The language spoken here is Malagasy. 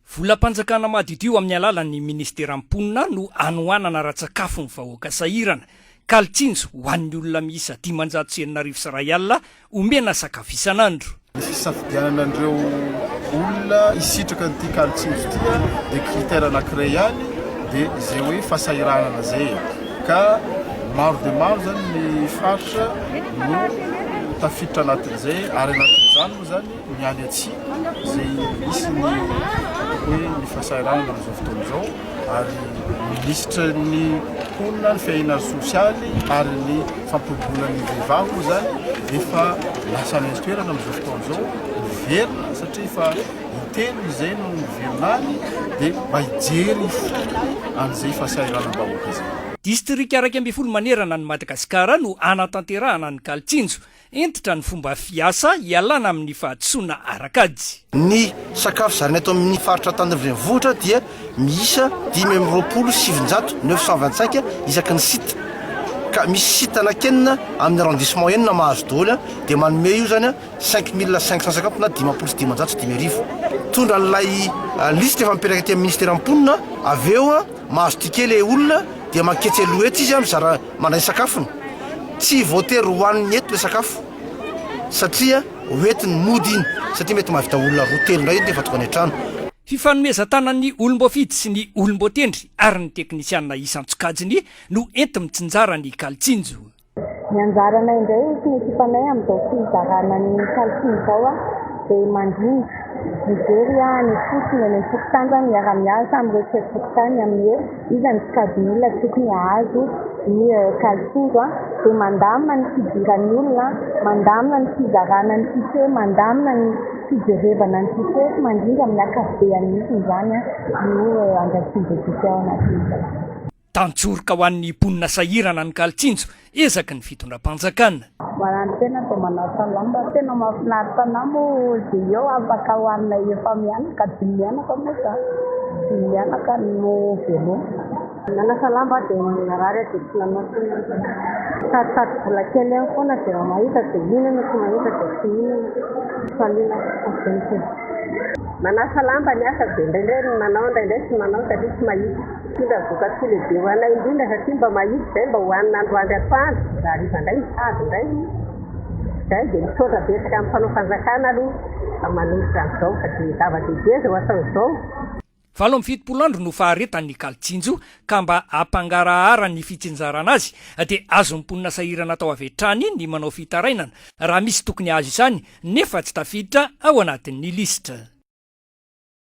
Volam-panjakana madiodio amin'ny alalan'ny Ministeran'ny Mponina no anohanana ara-tsakafo ny vahoaka sahirana. Kalitsinjo ho an'ny olona miisa dimanjato sy enina arivo sy iray alina omena sakafo isan'andro. Ny fisafidianana an'ireo olona hisitraka an'ity kalitsinjo ity dia critère anankiray ihany dia izay hoe fasahiranana izay e! ka maro dia maro izany ny faritra no tafiditra anatin'izay ary anatin'izany moa izany ny any atsimo izay misy ny hoe ny fahasahiranana amin'izao fotoana izao ary minisitra ny mponina ny fiainana sosialy ary ny fampirobona ny vehivavy moa izany efa lasa any an-toerana amin'izao fotoana izao miverina satria efa intelo izay no miverina any dia mba hijery fotony an'izay fahasahiranam-bahoaka izay. Distrika iraika ambin'ny folo manerana an'i Madagasikara no hanatanterahana ny Galitsinjo. Hentitra ny fomba fiasa hialana amin'ny fahadisoana ara-kajy. Ny sakafo zarina eto amin'ny faritra Antananarivo Renivohitra dia miisa dimy amby roapolo sy sivinjato, neuf cent vingt-cinq, isaky ny site, ka misy site anankenina amin'ny arrondissement enina mahazo daholo, dia manome io izany cinq mille cinq cent cinquante na dimampolo sy dimanjato sy dimy arivo. Mitondra an'ilay liste efa mipetraka ety amin'ny Minisiteran'ny Mponina, avy eo mahazo ticket ilay olona dia manketsy aloha etsy izy mizara mandray sakafony, tsy voatery hohaniny eto le sakafo satria hoentiny mody iny satria mety mahavita olona roa telo indray iny rehefa tonga any an-trano. Fifanomezan-tanan'ny olom-boafidy sy ny olom-boatendry ary ny teknisiana isan-tsokajiny no enti-mitsinjaran'ny kaltsinjo. Ny anjaranay indray sy ny ekipanay amin'izao fizarana ny kaltsinjo izao dia mandringa, mijery any ifotony, any am-pokontany izany miara-miasa amin'ireo chef fokontany amin'ny hoe. Iza ny sokajin'olona tokony hahazo ny kalitoro a? Dia mandamina ny fidiran'ny olona, mandamina ny fizarana ny ticket, mandamina ny fijerevana ny ticket sy mandrindra amin'ny akapobeany mihitsy izany no andraisim-boatify ao anatin'izay. Tantsoroka ho an'ny mponina sahirana ny kalintsinjo ezaky ny fitondram-panjakana. Maran'ny tena dia manao salama. Tena mahafinaritra anah moa dia eo afaka hohanina efa mianaka dimy mianaka moa za dimy mianaka no veloma. Nanao salama aho dia narary aho dia tsy nanao intsony aho zay. Sady vola kely ihany foana dia mahita dia mihinana tsy mahita dia tsy mihinana. Saliana fotsiny. Manasa lamba ny asa dia indraindray manao indraindray tsy manao satria tsy mahita. Mitondra voka-tsoa lehibe ho anay indrindra satria mba mahidy izay mba hohanina andro andry atoandro, dia hariva indray mitady indray. Izay dia misaotra betsaka amin'ny mpanao fanjakana aloha fa manolotra an'izao fa dia zava-dehibe izao atao izao. Valo amby fitopolo andro no faharetan'ny kaltsinjo ka mba hampangarahara ny fitsinjarana azy dia azon'ny mponina sahirana atao avy hatrany ny manao fitarainana raha misy tokony hahazo izany nefa tsy tafiditra ao anatin'ny lisitra.